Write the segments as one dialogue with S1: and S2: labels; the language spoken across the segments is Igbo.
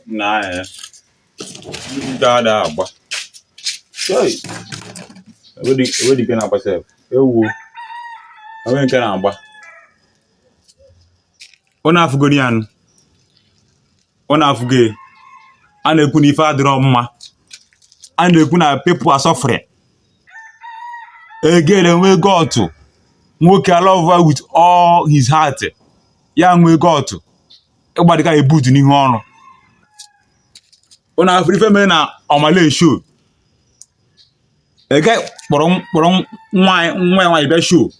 S1: na ya ndị ada agba e nwedị nke na-agba sef ewu o nwee nke na-agba unu afụgodi anụ unu afụgo a na-ekwu na ife adịrọ mma a na-ekwu na people are suffering a girl enwee gut nwoke alove ya with all his heart ya enwee gut ịgbadịka ya buutu n'ihu ọra unu afụrọ ife mere na omah lay show a guy kpọrọ kpọrọ nwa nwa ya nwaanyị bịa show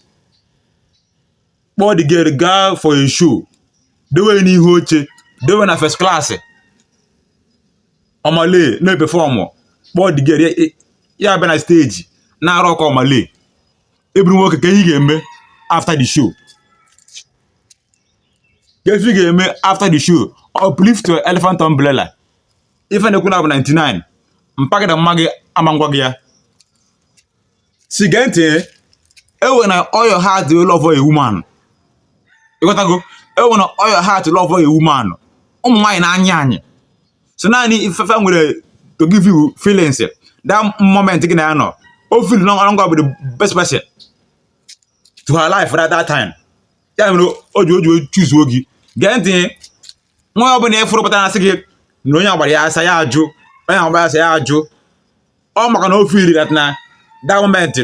S1: kpọọ the girl gaa for a show dewe ya n'ihu oche dewe na first class omah lay na-eperform kpọọ the girl ya- ya- ya abịa na stage na-arock omah lay ị bụrụ nwoke kee ife ị ga-eme after the show kee ife ị ga-eme after the show uplift your elephant umbrella ife na-ekwu na bụ 99 mpaghara mma gị ama ngwa gị ya si gee ntị ewena all your heart wee love a woman ịghọtago ewena all your heart love a woman ụmụ nwaanyị na-anya anyị sọ naanị ife fa nwere to give you feelings that moment gị na ya nọ o feel na ọ gị nwa bụ the best person to her life at that time ya mere o ji o ji chuzuo gị gee ntị nwaanyị ọ bụla ị fụrụ pụtara asị gị na onye agbara ya asa ya ajụ onye agbara asa ya ajụ ọ maka na o feel that na that moment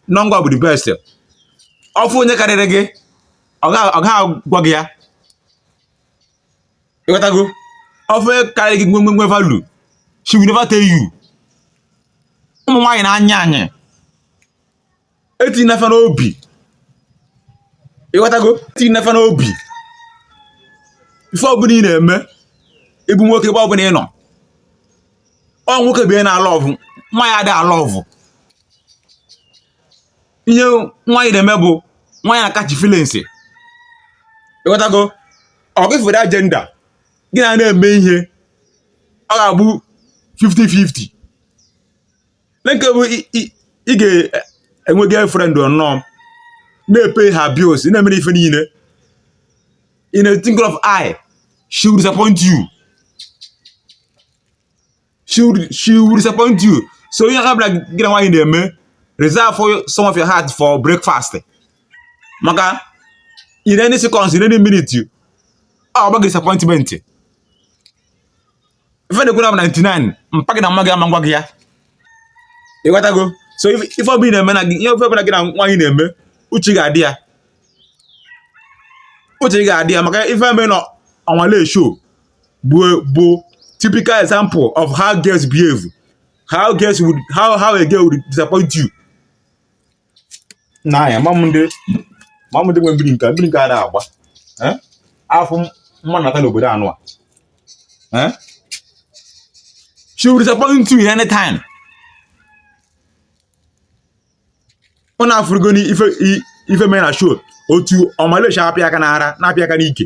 S1: na ọ gị nwa bụ the best ọ fụ onye karịrị gị ọ gaghị agwa gị ya ịghọtago ọ fụ onye karịrị gị nwe nwe value she will never tell you ụmụ nwaanyị na-anya anyị etinyena fa n'obi ịghọtago etinyena fa n'obi ife ọbụla ị na-eme ị bụ nwoke ebe ọbụla ị nọ ọ nwoke bụ ihe na-alove nwaanyị adịghị alove ihe nwaanyị na-eme bụ nwaanyị na-acatch feelings ịghọtago ọ gị fere agenda gị na ya na-eme ihe ọ ga-abụ 50-50 nke bụ ị ga-enwe girlfriend nnọọ na-epay her bills na-emere ife niile in a twinkle of eye she will disappoint you she will, she will disappoint you so ihe ọbụla gị na nwaanyị na-eme reserve for some of your heart for breakfast maka in any seconds in any minute ọ gbaa gị disappointment ife na-ekwu na 99 mpa gị na mma gị ama agwa gị ya ịghọtago so ife ọbụla ị na-eme na gị ihe ife ọbụla gị na nwaanyị na-eme uche gị adị ya uche gị adị ya maka ife mee na Omah Lay show bụ bụ typical example of how girls behave how girls would how how a girl would disappoint you n'anya ma m ndị ma m ndị nwe mbiri nke mbiri nke ada agba eh? afọ mma nata n'obodo anụwa eh? she will disappoint you anytime ụnụ afụrụgo ife ife mee na show otu Omah Lay si apịa aka n'ara na-apịa aka n'ike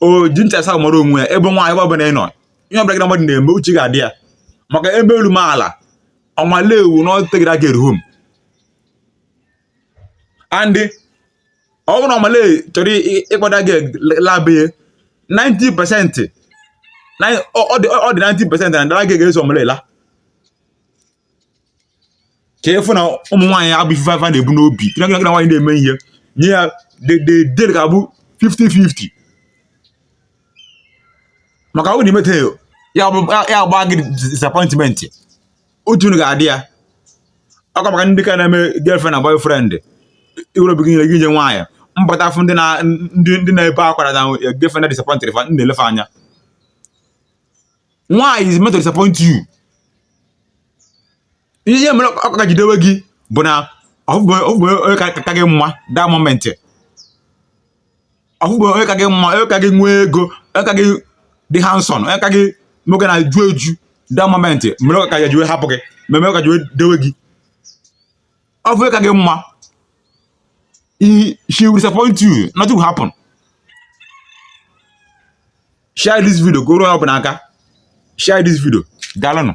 S1: o ji ntị asaa mara onwe ya ebe nwaanyị ebe ọbụla ị nọ ihe ọbụla gị na mmadụ na-eme uche gị adị ya maka e mee elu mee ala Omah Lay would not take that girl home and ọ bụrụ na Omah Lay chọrọ ịkpọ that girl laa be ya 90 percent ọ dị 90 percent na that girl ga-eso Omah Lay laa ka ị fụ na ụmụ nwaanyị abụ ife ị na-ebu n'obi na gị na nwaanyị na-eme ihe nye ya dedede ka ọ bụ 50-50 maka ọ bụ na i meta ya agba gị disappointment otu unu ga-adị ya ọkwa maka ndị ka na-eme girlfriend na boyfriend i were obi gị niile nye nwaanyị m bata afụ ndị na-ebe akwa na girlfriend na disappointed fa m na-ele fa anya nwaanyị is meant to disappoint you ihe mere ọ ka ji dewe gị bụ na ọ fụberọ onye ka gị mma that moment ọ fụberọ onye ka gị mma onye ka gị nwee ego onye ka gị dị handsome onye ka gị nwoke na-eju eju that moment mere ọ ka jiwe hapụ gị mere ọ ka jiwe dewe gị ọ fụ onye ka gị mma she will disappoint you nothing will happen share this video ka o ruo onye ọ bụla aka share this video daalụnụ